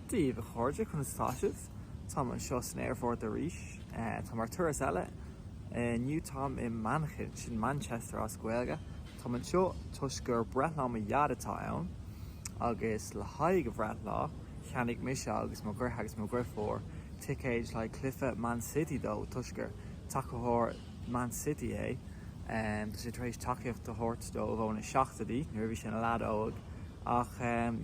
Díbh, a chairde, conas atá sibh? Táim anseo san aerfort arís. Táim ar turas eile. Inniu táim i Manchain, sin Manchester as Gaeilge. Táim anseo toisc gur breithlá mo Dhaid atá ann, agus le haghaidh a bhreithlá, cheannaigh mise agus mo dheartháir agus mo dheirfiúr ticéid le haghaidh cluiche Man City dó, toisc gur tacadóir Man City é. Tá sé tar éis tacaíocht a thabhairt dóibh ó na seachtóidí, nuair a bhí sé ina leaid óg. Ach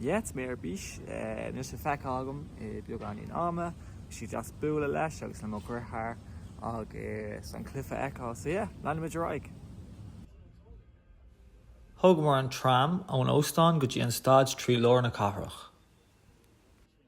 yeah, tá mé ar bís anois le feiceáil agam i beagáinín ama, bhí sé deas bualadh leis agus le mo dheartháir agus an cluiche a fheiceáil. So yeah, leanfaimid ar aghaidh. Thógamar an tram ón óstán go dtí an staid trí lár na cathrach.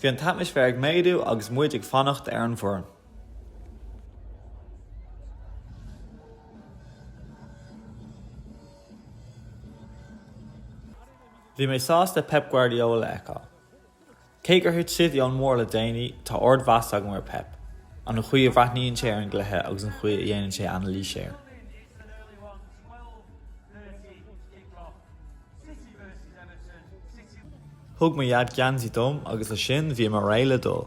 Bhí an t-atmaisféar ag méadú agus muid ag fanacht ar an bhfoireann. Bhí mé sásta Pep Guardiola a fheiceáil. Cé gur thit City ón mbarr le déanaí, tá ardmheas agam ar Pep, an chaoi a bhreathnaíonn sé ar an gcluiche agus an chaoi a dhéanann sé anailís air. Thug mo dhaid geansaí dom agus le sin bhíomar réidh le dul.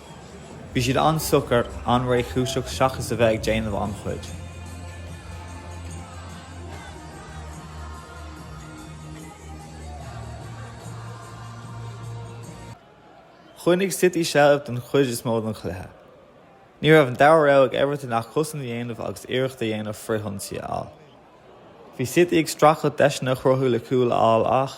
Bhí siad an-socair, an-réchúiseach seachas a bheith ag déanamh an-chuid. Choinnigh City seilbh don chuid is mó den chluiche. Ní raibh an dara rogha ag Everton ach cosaint a dhéanamh agus iarracht a dhéanamh frithionsaí a fháil. Bhí City ag streachailt deiseanna a chruthú le cúl a fháil ach,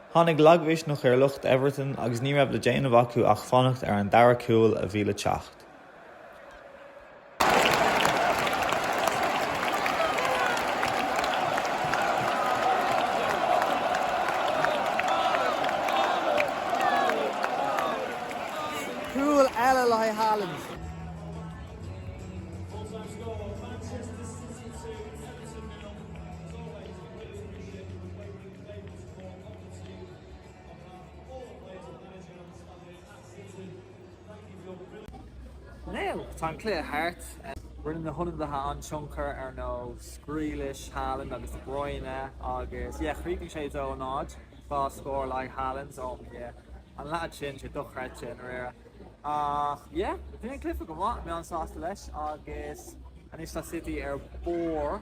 Tháinig lagmhisneach ar lucht Everton agus ní raibh le déanamh acu ach fanacht ar an dara cúl a bhí le teacht. Cúl eile le haghaidh Haaland. Tá an cluiche thart. Rinne na hionadaithe an-tionchar ar nós Grealish, Haaland agus de Bruyne agus yeah, chríochnaigh sé 2 0. Dhá scór le haghaidh Haaland, oh my yeah. An leaid sin, sé dochreidte i ndáiríre. Ach yeah, bhí an cluiche go maith, mé an-sásta leis agus anois tá City ar barr.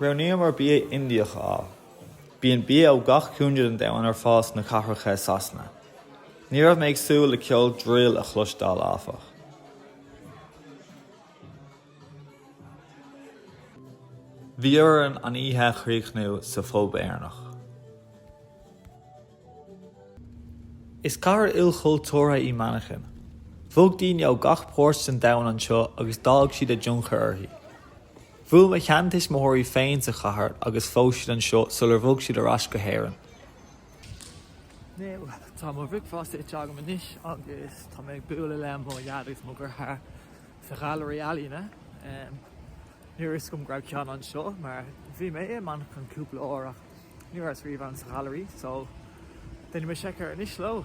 Roghnaíomar bia Indiach a fháil. Bíonn bia ó gach cúinne den domhan ar fáil sna cathracha i Sasana. Ní raibh mé ag súil le ceol drill a chloisteáil, áfach. Bhí orainn an oíche a chríochnú sa phub Éireannach. Is cathair ilchultúrtha í Manchain. Bhog daoine ó gach páirt den domhan anseo agus d'fhág siad a dtionchar uirthi. Bhuail mo sheantuismitheoirí féin sa chathair agus phós siad anseo sular bhog siad ar ais go hÉirinn. Inniu, tá mo bhricfeasta ite agam anois agus tá mé ag bualadh le mo Dhaid agus mo dheartháir sa ghailearaí ealaíne. Ní raibh a fhios agam go raibh ceann anseo mar bhí mé i Manchain cúpla uair ach Ní raibh mé riamh sa ghailearaí, só déanfaimid seiceáil anois leo.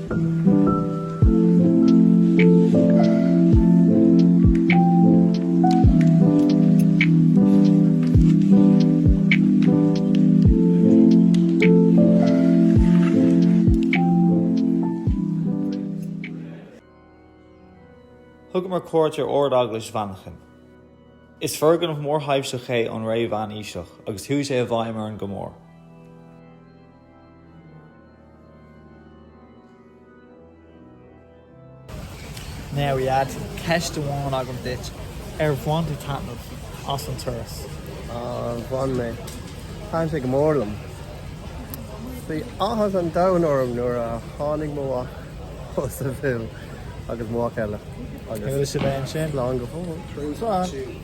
Thugamar cuairt ar Ard-Eaglais Mhanchain. Is foirgneamh mórthaibhseach é ón ré mheánaoiseach agus chuaigh sé i bhfeidhm orainn go mór. Now, a Dhaid, ceist amháin agam duit, ar bhain tú taitneamh as an turas? Ah, bhain mé. Thaitin sé go mór liom. Bhí áthas an domhan orm nuair a tháinig mo mhac ó sa bhaile agus mhac eile agus sea bhain sin lá go fóill.